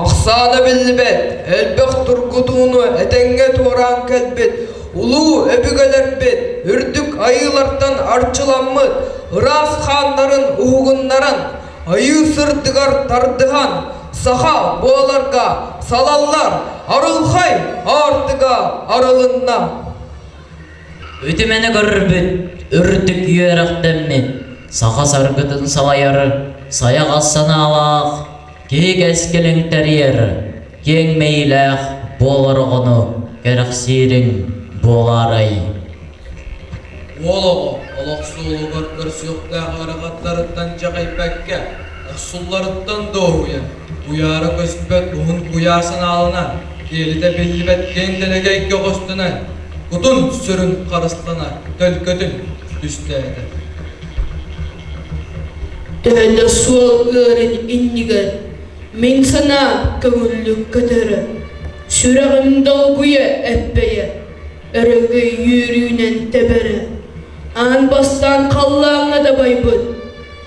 Ахсаана биллибэт, элбэх тургутууну этэҥҥэ туораан кэлбит, улуу өбүгэлэрбит үрдүк айыылартан арчыламмыт ыраас хааннарын уһугуннаран, айыы сырдыгар тардыһан, саха буоларга салаллар арылхай аартыга арылынна. Үтүмэни көрбүт үрдүк үөрэхтэммит саха саргытын салайар сайаҕас санаалаах киһи кэскилин тэрийэр киэҥ мэйиилээх буолар оҕону кэрэхсиириҥ буолаарай Уол оҕо олох суолугар көрсүөхтээх ыарахаттарыттан дьэҕэйбэккэ Охсулларыттан дуоһуйан, куйаара көспөт уһун куйаар санааланан, киэлитэ биллибэт киэҥ дэлэгэйгэ хостонон, кутун сүрүн харыстана төлкөтүн түстээтэ. Төлө суол ыарын иннигэр мин санаа көҥүллүк көтөрө, сүрэҕим долгуйа эппэйэ, өрөгөй үөрүүнэн тэбэрэ, аан бастаан халлааҥҥа дабайбыт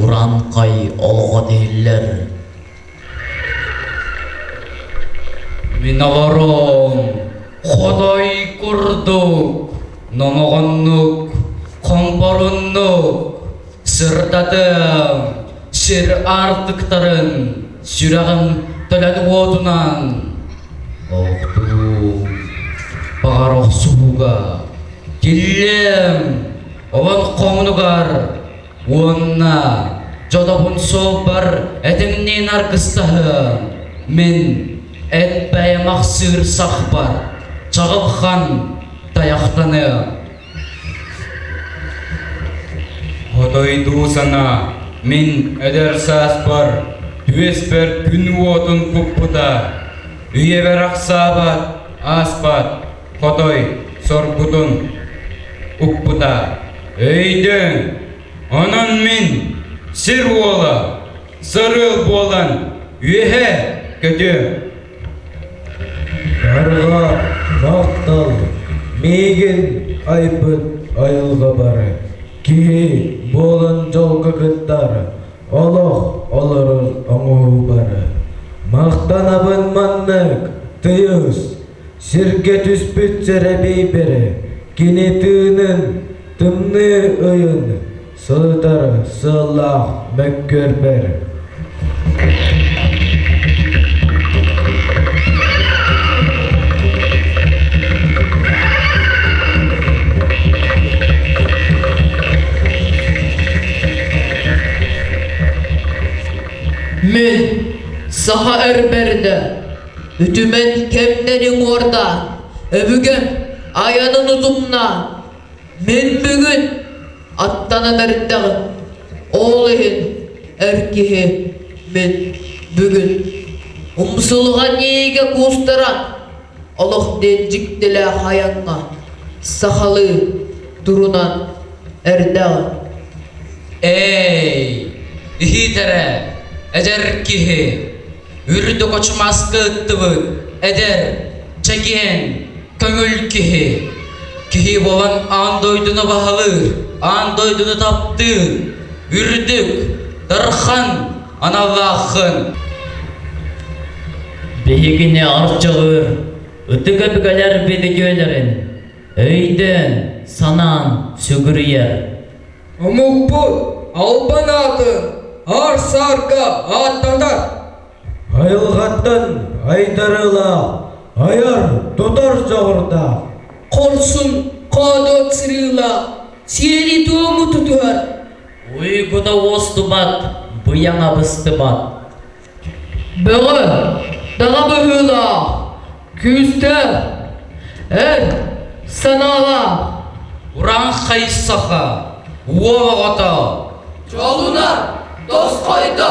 Урааҥхай олоҕо дииллэр Мин олорон хоной курдук номоҕоннук хомпоруннук сырдатыам сир аартыктарын сүрэҕим төлөн уотунан охтуум баҕар охсуһууга тиллиэм олон хоҥнугар уонна дьодобун суолбар этиҥниин аргыстаһыам мин эт бэйэм ахсыыр сахпар чаҕылхан тайахтаныам Хотойдуу сана мин эдэр сааспар түөспэр күн уотун куппута үйэбэр ахсаабат ааспат Хотой сорбутун укпута. Өйдөҥ, онон мин сир уола, сарыал буолан үөһэ көтүөм. Карга дактал миигин айбыт айылга бары киһи буолан дьолго кыттар олох олорор оҥоһуу бары махтанабын маннык тыйыс Сиргэ түспүт сэрэбиэйбэрэ кини тыынын тымныы ыйын сытар сыллаах мөккүөрбэр Мин саха өрбөрдө Үтүмэн кэмнэри уҥуорда, өбүгэ айанын утумна. Мин бүгүн аттанан эрдэҕим. Ол иһин эр киһи мин бүгүн умсулҕан иэгэ куустара олох диэн дьиктилээх айаҥҥа сахалыы турунан эрдэҕим. Эй, иһитэрэ, эдэр киһи үрдүк очумаска ыттыбыт эдэр чэгиэн көҥүл киһи киһи буолан аан дойдуну баһалыыр аан дойдуну таптыыр үрдүк дархан аналлааххын биһигини арчылыыр ытык өбүгэлэр бидикөлөрүн өйдөөн санаан сүгүрүйэр Омукпут албан аатын аар-саарга ааттатар. Айылҕаттан айдарыылаах, айар, тутар дьоҕурдаах. Хорсун хоодот сырыылаах сиэри-туому тутуһар. Уйгута уостубат, быйаҥа быстыбат. Бөҕө, даҕа быһыылаах, күүстээх, эр санаалаах. Уран хайсаха, уол оҕото. Дьолуна, тосхойдо.